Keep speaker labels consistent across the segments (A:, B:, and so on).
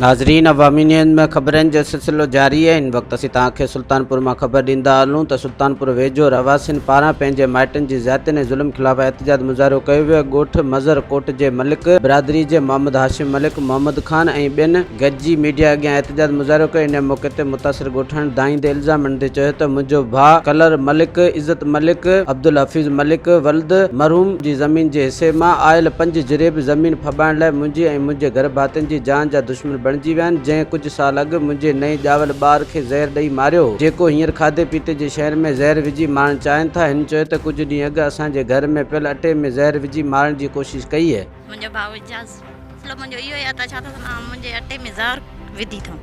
A: ناظرين عوامي نيوز ۾ خبرن جو سلسلو جاري آهي ان وقت اسين توهان کي سلطانپور مان خبر ڏيندا هلون ته سلطانپور ويجهو رهواسين پاران پنهنجي مائٽن جي زيادتين ۽ ظلم خلاف احتجاج مظاهرو ڪيو ويو ڳوٺ مظهر ڪوٽ جي ملڪ برادري جي محمد هاشم ملڪ محمد خان ۽ ٻين گڏجي ميڊيا اڳيان احتجاج مظاهرو ڪيو انهيء موقعي تي متاثر ڳوٺاڻي دانهيندي الزام هڻندي چيو ته منهنجو ڀاء ڪلر ملڪ عزت ملڪ عبدالحفيظ ملڪ ولد مرحوم جي زمين جي حصي مان آيل پنج جريب زمين ڦٻائڻ لاء منهنجي ۽ منهنجي گهر ڀاتين جي جان جا دشمن بڻجي ويا آهن جنهن ڪجهه سال اڳ منهنجي نئين ڄاول ٻار کي زهر ڏئي ماريو هو جيڪو هينئر کاڌي پيتي جي شين ۾ زهر وجهي مارڻ چاهين ٿا هن چيو ته ڪجهه ڏينهن اڳ اسان جي گهر ۾ پيل اٽي ۾ زهر وجهي مارڻ جي ڪوشش ڪئي هئي منهنجو ڀاء اعجاز
B: مسئلو منهنجو اهو ئي آهي ته ڇا ته آئون منهنجي اٽي ۾ زهر وڌي ٿو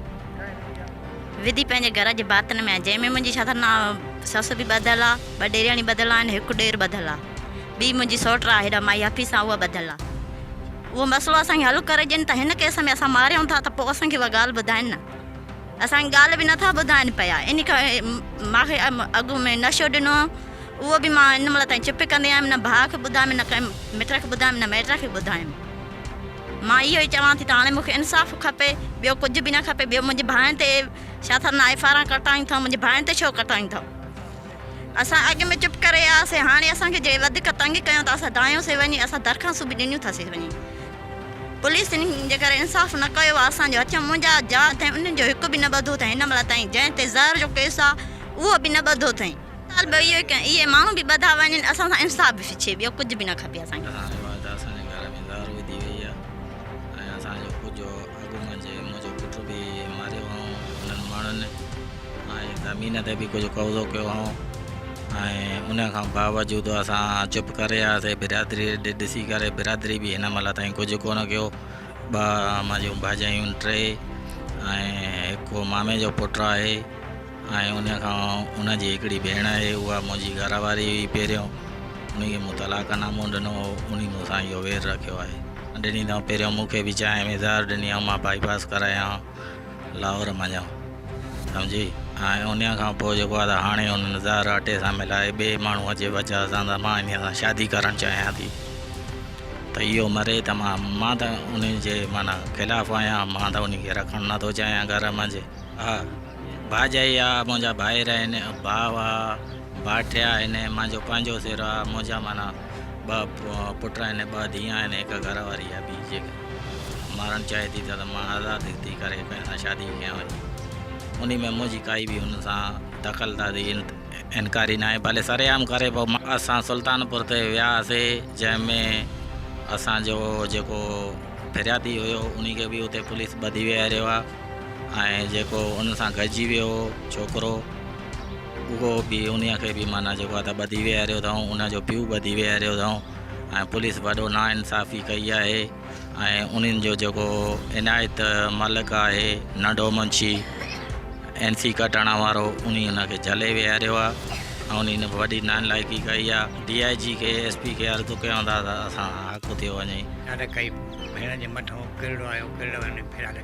B: وڌي پنهنجي گهر جي باطن ۾ آهي جنهن ۾ منهنجي ڇا ته نا سس به ٻڌل آهي ٻه ڏيرياڻي ٻڌل آهن هڪ ڏير ٻڌل آهي ٻي منهنجي سوٽ آهي هيڏا مائي حفيظ سان اها ٻڌل آهي اهو مسئلو اسان کي حل ڪري ڏين ته هن ڪيس ۾ اسان ماريون ٿا ته پوء اسان کي اها ڳالهه ٻڌائين نه اسان کي ڳالهه به نه ٿا ٻڌائين پيا ان کان ماکي اڳ ۾ نشو ڏنو اهو به مان ان مهل تائين چپ ڪندي آيم نه ڀاء کي ٻڌايم نه ڪنهن مٽ کي ٻڌايم نه مائٽ کي ٻڌايم مان اهو ئي چوان ٿي ته هاڻي مونکي انصاف کپي ٻيو ڪجهه به نه کپي ٻيو منهنجي ڀائن تي شاٿر نه ايف آر آر ڪٽائين ٿا منهنجي ڀائن تي ڇو ڪٽائين ٿا. اسان اڳ ۾ چپ ڪري آيا سي هاڻي اسان کي جي وڌيڪ تنگ ڪيون ته اسان دانهيون سي وڃي اسان درخواستون به ڏنيون ٿا سي وڃي پوليس تن جي ڪري انصاف نه ڪيو آ اسان جو اچم منهنجا جا ٿين انهن جو هڪ به نه ٻڌو ٿين هن مهل تائين جنهن تي زهر جو ڪيس آ اهو به نه ٻڌو ٿين سال به اهو ئي ڪين اهي ماڻهو به ٻڌا وڃن اسان سان انصاف به ڇي ٻيو ڪجهه به نه کپي اسان کي. اسان جي بعد اسان جي گهر
C: ۾ زهر وڌي وئي آ ۽ اسان جو ڪجهه اڳ منهنجي منهنجو پٽ به ماريو هئائون انهن ماڻهن ۽ زمين تي به ڪجهه قبضو ڪيو هئائون ۽ ان کان باوجود اسان چپ ڪري رهياسي برادري ڏي ڏسي ڪري برادري به هن مهل تائين ڪجهه ڪونه ڪيو ٻه منهنجيون ڀاڄايون ٽي ۽ هڪ مامي جو پٽ آهي ۽ ان کان ان جي هڪڙي ڀيڻ آهي، اها منهنجي گهر واري هئي پهريون، انهي کي مون طلاق نامو ڏنو هو، انهي مون سان اهو وير رکيو آهي. ڏني اٿائون پهريون مون کي به چانهه ۾ زهر ڏني هئائون، مان بائي پاس ڪرايائون لاهور منجهان سمجهي، ۽ ان کان پوء جيڪو آهي ته هاڻي ان زهر اٽي سان ملائي ٻئي ماڻهوء جي وجهه سان ته مان انهي سان شادي ڪرڻ چاهيان ٿي ته اهو مري ته مان مان ته انهي جي معنيٰ خلاف آهيان، مان ته انهي کي رکڻ نٿو چاهيان گهر منجهه. آ ڀاڄائي آ، منهنجا ڀائر آهن، ڀاء آ، ڀاٺيا آهن، منهنجو پنهنجو سر آ، منهنجا معنيٰ ٻه پٽ آهن، ٻه ڌيئن آهن، هڪ گهر واري آ، ٻي جي مارڻ چاهي ٿي ته مان آزاد ٿي ڪري ڪنهن سان شادي ڪيان وڃي. انهي ۾ منهنجي ڪائي به هن سان دخل دادي انڪاري ناهي، ڀلي سرعام ڪري پئو. اسان سلطانپور تي وياسي، جنهن ۾ اسان جو جيڪو پھرياتي هيو، انهي کي به اتي پوليس ٻڌي ويهاريو آ. ۽ جيڪو ان سان گڏجي ويو هو ڇوڪرو، اهو به انهيء کي به معنيٰ جيڪو آهي ته ٻڌي ويهاريو اٿائون، ان جو پيء ٻڌي ويهاريو اٿائون ۽ پوليس وڏو ناانصافي ڪئي آهي ۽ انهن جو جيڪو عنايت ملڪ آهي ننڍو منشي اين سي ڪٽاڻا وارو انهي ان کي جهلي ويهاريو آهي ۽ انهي ان وڏي نانلائقي ڪئي آهي، ڊي آء جي کي ايس پي کي عرض ڪيون ٿا ته اسان حق ٿيو وڃي. ڇا ته ڪئي
D: ڀيڻ جي مٿو ڪرڙو آيو ڪرڙ وڃي ڦيرا لڳي.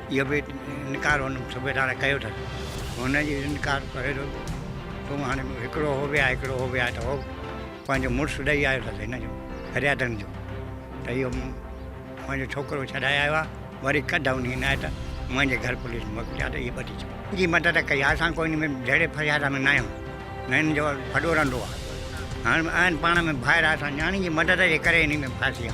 D: اهو به انڪار هن صوبيدار ڪيو اٿس. هن جي انڪار ڪري ٿو تون هاڻي هڪڙو هو به آهي هڪڙو هو به آهي ته هو پنهنجو مڙس ڏئي آيو اٿس هن جو فريادن جو ته اهو مون پنهنجو ڇوڪرو ڇڏائي آيو آهي وري ڪڍ انهي عنايت منهنجي گهر پوليس موڪلي آ ته اهي ٻڌي ڇڏ. جي مدد ڪئي آهي اسان ڪوئي ۾ جهيڙي فرياد ۾ ناهيون نه هن جو ڦڏو رنڊو آهي هاڻي آهن پاڻ ۾ ڀائر اسان نياڻي جي مدد جي ڪري انهي ۾ ڦاسي آ.